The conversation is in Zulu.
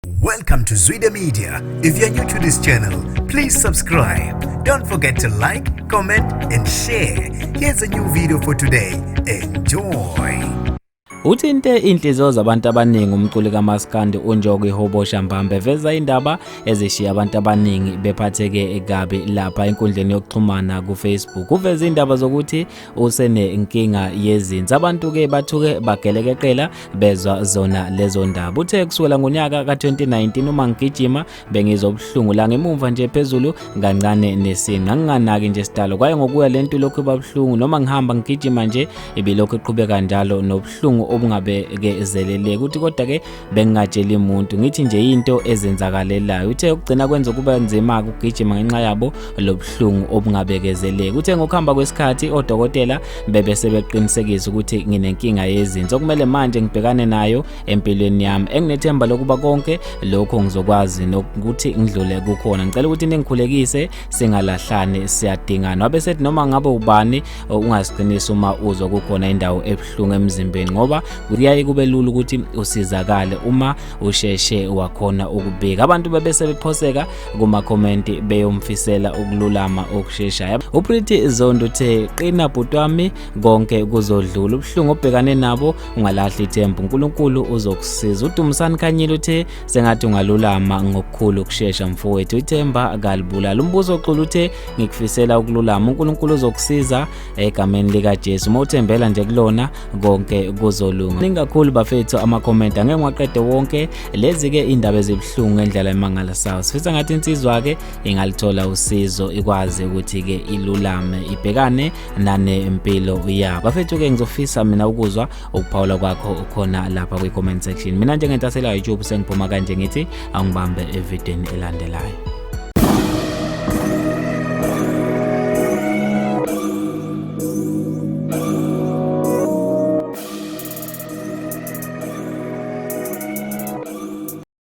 Welcome to Zwide Media. If you're new to this channel, please subscribe. Don't forget to like, comment and share. Here's a new video for today. Enjoy. Uthinte inhliziyo zabantu abaningi umculi kaMaskandi uNjoko iHobosha Mbambe eveza indaba ezishiya abantu abaningi bephatheke kabi lapha enkundleni yokuxhumana kuFacebook. Uveze indaba zokuthi usenenkinga yezinsi abantu ke bathuke bagelekeqela bezwa zona lezo ndaba uthe kusukela ngonyaka ka-2019 uma ngigijima bengizobuhlungu la ngemumva nje phezulu kancane nesinqa nginganaki nje sidalo kwaye ngokuya le nto lokhu ibabuhlungu noma ngihamba ngigijima nje ibilokhu iqhubeka njalo nobuhlungu obungabekezeleleki uthi kodwa-ke bengingatsheli muntu ngithi nje into ezenzakalelayo uthe ukugcina kwenza kuba nzima ukugijima ngenxa yabo lobuhlungu obungabekezeleki uthe ngokuhamba kwesikhathi odokotela bebe sebeqinisekisa ukuthi nginenkinga yezinso kumele manje ngibhekane nayo empilweni yami enginethemba lokuba konke lokho ngizokwazi nokuthi ngidlule kukhona ngicela ukuthi ningikhulekise singalahlani siyadingana wabe sethi noma ngabe ubani ungaziqinisi uma uzwa kukhona indawo ebuhlungu emzimbeni ngoba kuyaye kube lula ukuthi usizakale uma usheshe wakhona ukubika abantu bebese bephoseka kumakhomenti beyomfisela ukululama okusheshayo upriti zondo uthe qina bhuti wami konke kuzodlula ubuhlungu obhekane nabo ungalahli ithemba unkulunkulu uzokusiza udumisani khanyile uthe sengathi ungalulama ngokukhulu ukushesha mfowethu ithemba kalibulala umbuzo oxulu uthe ngikufisela ukululama unkulunkulu uzokusiza egameni likajesu uma uthembela nje kulona konke kuzolunga ningakhulu bafethu amakhomenti angeke ngiwaqede wonke lezi-ke iy'ndaba ezibuhlungu endlela emangala sawo sifisa ngathi insizwa-ke ingalithola usizo ikwazi ukuthi-ke ilulame ibhekane nanempilo yabo bafethu-ke ngizofisa mina ukuzwa ukuphawula kwakho ukhona lapha kwi-comment section mina njengentasela youtube sengiphuma kanje ngithi angibambe evideni elandelayo